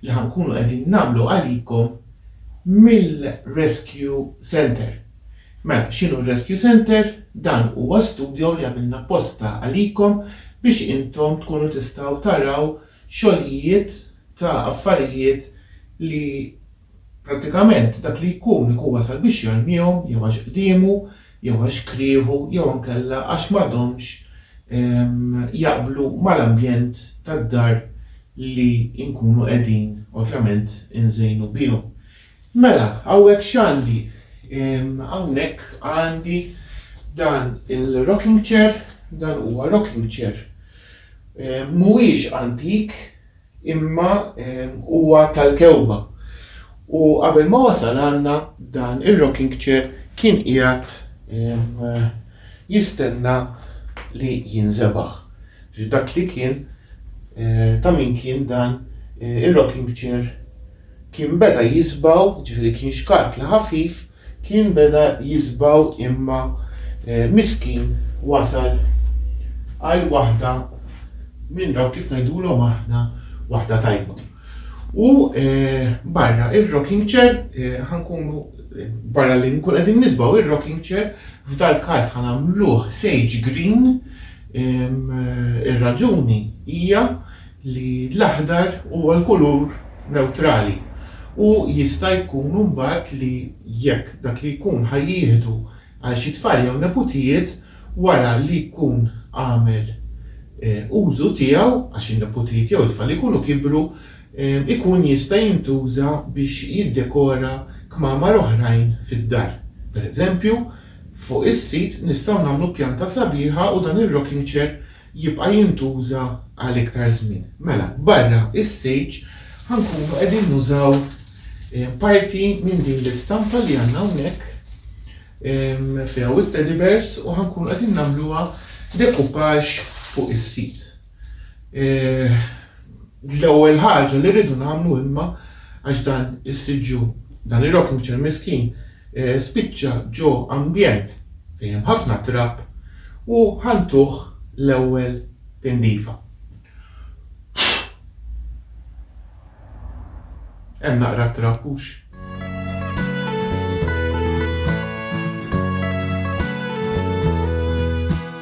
li ħa nkunu qegħdin nagħmlu għalikom mill-Rescue Centre. Mela, x'inhu r-Rescue Centre? Dan huwa studio li għamilna apposta għalikom biex intom tkunu tistgħu taraw xogħlijiet ta' affarijiet li prattikament dak li jkun ikun wasal biex jarmihom jew għax qdiemu jew għax krieħu jew ankella għax m'għadhomx jaqblu mal-ambjent tad-dar li nkunu qegħdin ovvjament inżejnu bihom. Mela, hawnhekk x'għandi? Hawnhekk għandi dan il-rocking chair, dan huwa rocking chair. Mhuwiex antik, imma huwa tal-kewma. U qabel ma wasal għandna dan ir-rocking chair kien qiegħed jistenna li jinżebaħ. Dak li kien eh, ta' min kien dan eh, ir-rocking chair kien beda jisbaw, ġifieri kien xkatla ħafif Kien beda jisbaw imma miskin wasal għal waħda minn dawk kif ngħidulhom aħna waħda tajba. U barra ir-rocking chair ħa nkunu barra li nkunu qegħdin nisbaw ir-rocking chair f'dal-każ ħa nagħmluh sage green ir-raġuni hija li l-aħdar huwa l-kulur newtrali u jista' jkun imbagħad li jekk dak li jkun ħa jieħdu għal xi tfal jew neputijiet wara li jkun għamel użu tiegħu, għax in-neputijiet jew it-tfal ikunu kibru, ikun jista' jintuża biex jiddekora kmamar oħrajn fid-dar. Pereżempju, fuq is-sit nistgħu nagħmlu pjanta sabiħa u dan ir-rocking chair jibqa' jintuża għal iktar żmien. Mela, barra is-silġ ħa nkunu qegħdin nużaw parti minn din l-istampa li għandna hawnhekk fiha u teddy bears u ħa nkunu qegħdin nagħmluha dekupaġ fuq is-sit. Eh, l-ewwel ħaġa li rridu nagħmlu imma għax dan is-siġġu dan ir-rocking chair miskin spiċċa ġo ambjent fejn hemm ħafna trab u ħa ntuh l-ewwel tindifa. Hemm naqra trab hux?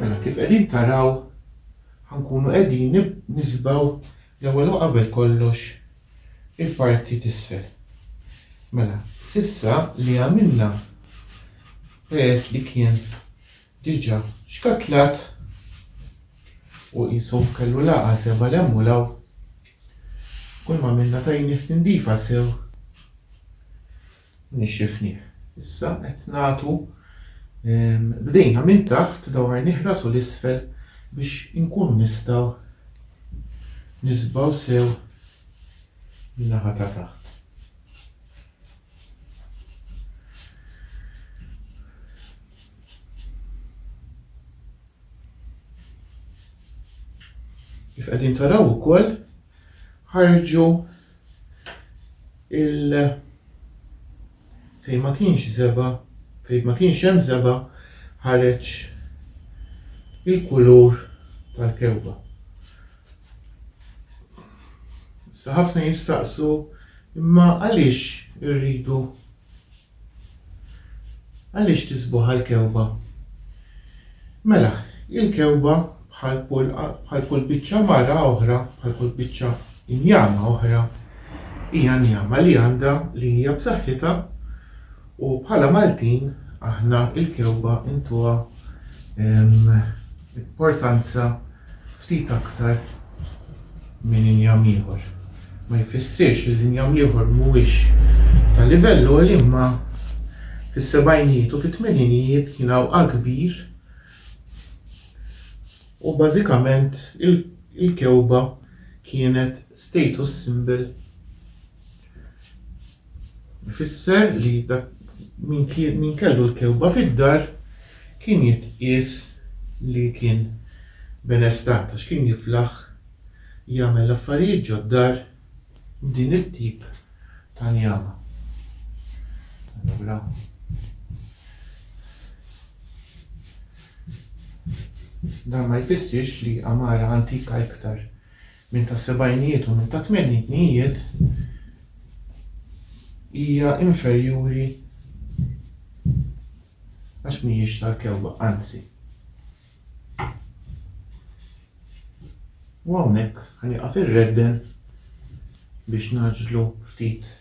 Mela kif qegħdin taraw ħa nkunu qegħdin nisbaw l-ewwel u qabel kollox il-parti t'isfel. Mela s'issa li għamilna peress li kien diġà xkatlat u qisu kellu lagħqa seba' 'l hemm u 'l hawn, kull m'għamilna tajnieh tindifa sew. Nixxifnih. Issa qed nagħtu b'idejna minn taħt dawar nihrasu 'l isfel biex inkunu nistgħu nisbgħu sew in-naħa ta' taħt. Kif qegħdin taraw ukoll ħarġu il fejn ma kienx żeba, fejn ma kienx hemm żeba ħareġ il-kulur tal-kewba. Issa ħafna jistaqsu imma għaliex irridu Għaliex tisbu ħal-kewba? Mela, il-kewba bħal kull bħal kull biċċa mara oħra, bħal kull biċċa injama oħra, hija njama li għandha li hija b'saħħitha u bħala Maltin aħna il-kewba intuha ehm, importanza ftit aktar minn injam ieħor. Ma jfissirx li l-injam l-ieħor mhuwiex ta' livell għoli imma fis-sebgħinijiet u fit-tmeninijiet kien hawn qagħa kbir u bażikament il-kewba kienet status symbol Ifisser li dak min kien min kellu l-kewba fid-dar kien jitqies li kien benestant għax kien jiflaħ jagħmel affarijiet ġod-dar b'din it-tip ta' njama. Allura dan ma jfissirx li għamara antika iktar minn tas-sebgħinijiet u minn tat-tmeninijiet, hija inferjuri għax mhijiex tal-kewwa, anzi. U hawnhekk ħa nieqaf irredden biex nagħġlu ftit.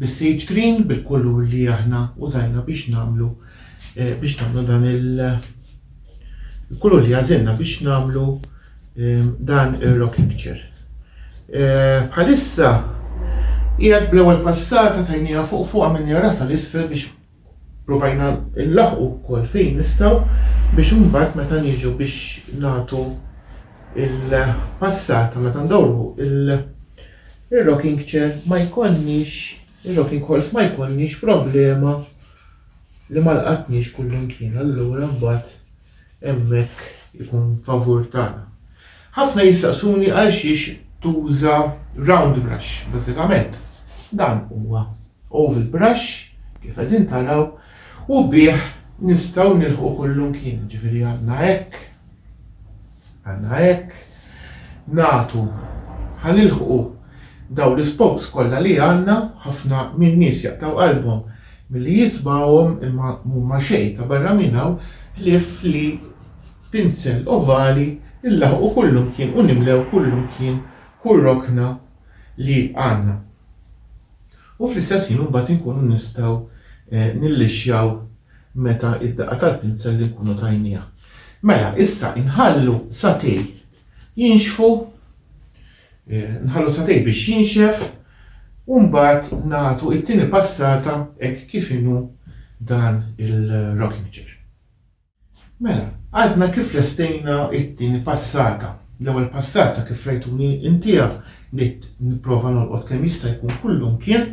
bis-sage green bil-kulur li aħna użajna biex nagħmlu biex nagħmlu dan il-kulur li għażilna biex nagħmlu dan ir-rock picture. Bħalissa qiegħed bl-ewwel passata tajniha fuq fuq għamilni rasa l-isfel biex provajna nlaħqu wkoll fejn nistgħu biex imbagħad meta niġu biex nagħtu il-passata meta ndawru il-rocking chair ma jkollniex ir-rocking horse ma jkollniex problema li ma lqatniex kullimkien allura mbagħad hemmhekk ikun favur tagħna. Ħafna jistaqsuni għalxiex tuża round brush, bażikament dan huwa oval brush kif qegħdin taraw u bih nistgħu nilħqu kullumkien, ġifieri għandna hekk, Għandna hekk nagħtu ħa nilħqu dawn l-ispokes kollha li għandna, ħafna min-nies jaqtgħu qalbhom milli jisbgħuhom imma m'huma xejn ta' barra minn hawn ħlief li pinsel ovali nlaħqu kullimkien u nimlew kullimkien kull rokna li għandna. U fl-istess ħin imbagħad inkunu nistgħu nillixxjaw meta d-daqqa tal-pinsell inkunu tajniha. Mela, issa inħallu satej jinxfu, nħallu satej biex jinxef u mbagħad nagħtu t-tieni passata hekk kif inhu dan il-rocking chair. Mela, għadna kif lestejna t-tieni passata. L-ewwel passata kif rajtuni intiha Bdejt nipprova nolqot kemm jista' jkun kullimkien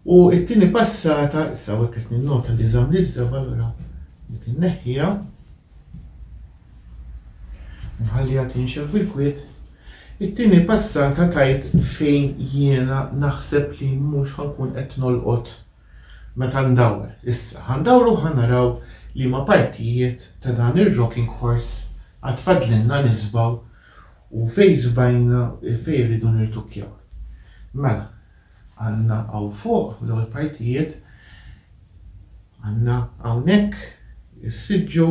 u t-tieni passata, issa hawnhekk qed ninnota li żamm l-iżżeb allura dik inneħħiha. Nħalliha tinxef bil-kwiet. It-tieni passata tajt fejn jiena naħseb li mhux ħankun qed nolqot meta ndawwar. Issa ħandawru u ħanaraw liema partijiet ta' dan ir-rocking horse għad fadlilna nisbgħu U fejn żbajna, fejn irridu nirtukkjaw? Mela, għandna hawn fuq, f'dawn il-partijiet, għandna hawnhekk is-siġġu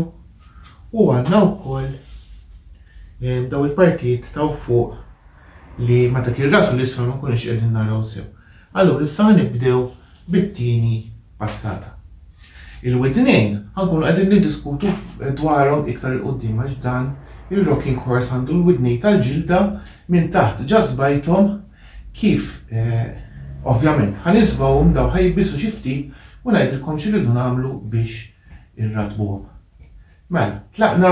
u għandna wkoll eh, dawn il-partijiet taw fuq li meta kien rasu l-isfel ma nkunux qegħdin naraw sew. Allura issa ħa nibdew bit-tieni passata. Il-widnejn ħa nkunu qegħdin niddiskutu dwarhom iktar 'il quddiem għax dan ir-rocking horse għandu l-widnejn tal-ġilda minn taħt ġa sbajthom kif ovvjament ħa nisbgħuhom dawn ħa jibbisu xi ftit u ngħidilkom x'irridu nagħmlu biex irrattbuhom. Mela, tlaqna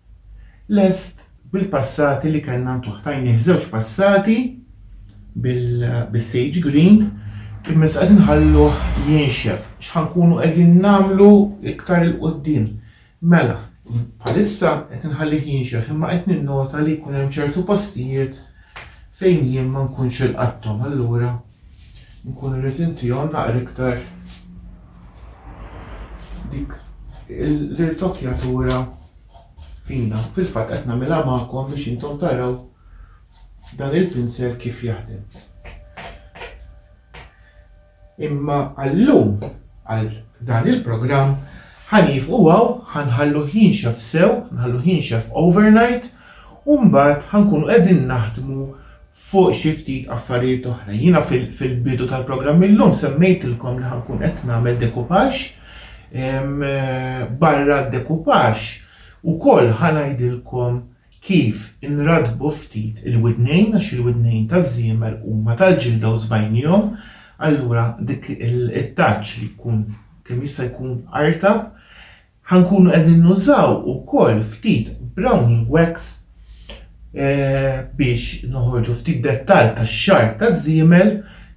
lest bil-passati li kellna ntuh tajnih żewġ passati bis-sage green imma issa qed inħalluh jinxef x'ħa nkunu qegħdin nagħmlu iktar 'il quddiem. Mela, bħalissa qed inħallih jinxef imma qed ninnota li jkun hemm ċertu postijiet fejn jien ma nkunx ilqatthom allura Nkun irrid inti hawn naqra iktar dik l-irtokjatura fina. Fil-fatt qed nagħmilha magħkom biex intom taraw dan il-pinsel kif jaħdem. Imma għallum għal dan il-programm ħanif u għaw ħanħallu ħinxef sew, nħallu ħinxef overnight, u mbagħad ħankunu qegħdin naħdmu fuq xi ftit affarijiet oħra. Jiena fil-bidu tal-programm illum semmejtilkom li ħa nkun qed nagħmel decoupage. Barra d-decoupage ukoll ħa ngħidilkom kif inrattbu ftit il-widnejn għax il-widnejn taż-żiemel huma tal-ġilda u żbajnihom, allura dik it-touch li tkun kemm jista' jkun artab Ħa nkunu qegħdin nużaw ukoll ftit browning wax biex noħorġu ftit dettall tax-xagħar taż-żiemel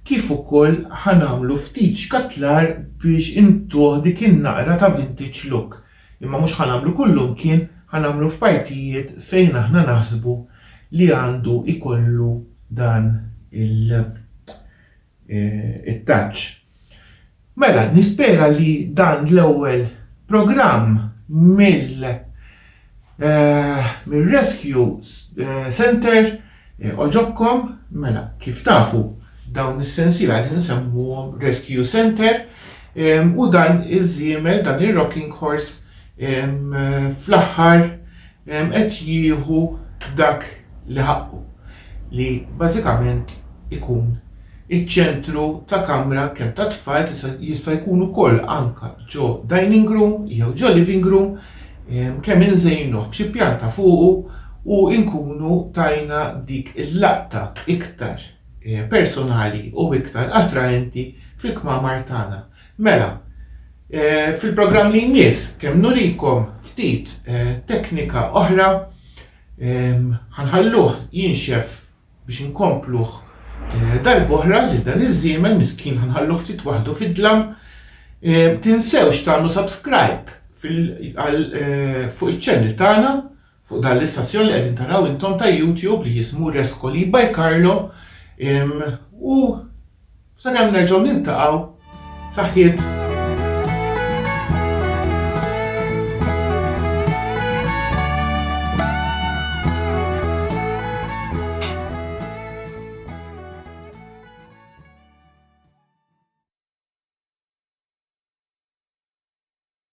kif ukoll ħa nagħmlu ftit xkatlar biex intuh dik in-naqra ta' vintage look. Imma mhux ħa nagħmlu kullimkien, ħa nagħmlu f'partijiet fejn aħna naħsbu li għandu jkollu dan il it-taċ. Mela, nispera li dan l-ewwel programm mill mir-Rescue Center għoġobkom. Mela, kif tafu, dawn is-sensiela qegħdin insemmuhom Rescue Center u dan iż-żiemel, dan ir-rocking horse fl-aħħar qed jieħu dak li ħaqqu, li bażikament ikun iċ-ċentru ta' kamra kemm tat-tfal jista' jkun ukoll anke ġo dining room jew ġo living room kemm inżejnuh b'xi pjanta fuqu u nkunu tajna dik il-laqta iktar personali u iktar attraenti fil-kmamar tagħna. Mela, fil-programm li jmiss kemm nurikom ftit teknika oħra ħanħalluh jinxef biex inkompluh darb'oħra lil dan iż-żiemel miskin ħanħalluh ftit waħdu fid-dlam. Tinsewx tagħmlu subscribe fuq iċ-channel tagħna Fuq dan l-istazzjon li qegħdin taraw intom ta' YouTube li jismu Rescoli by Carlo u sakemm nerġgħu nintaqgħu saħħiet.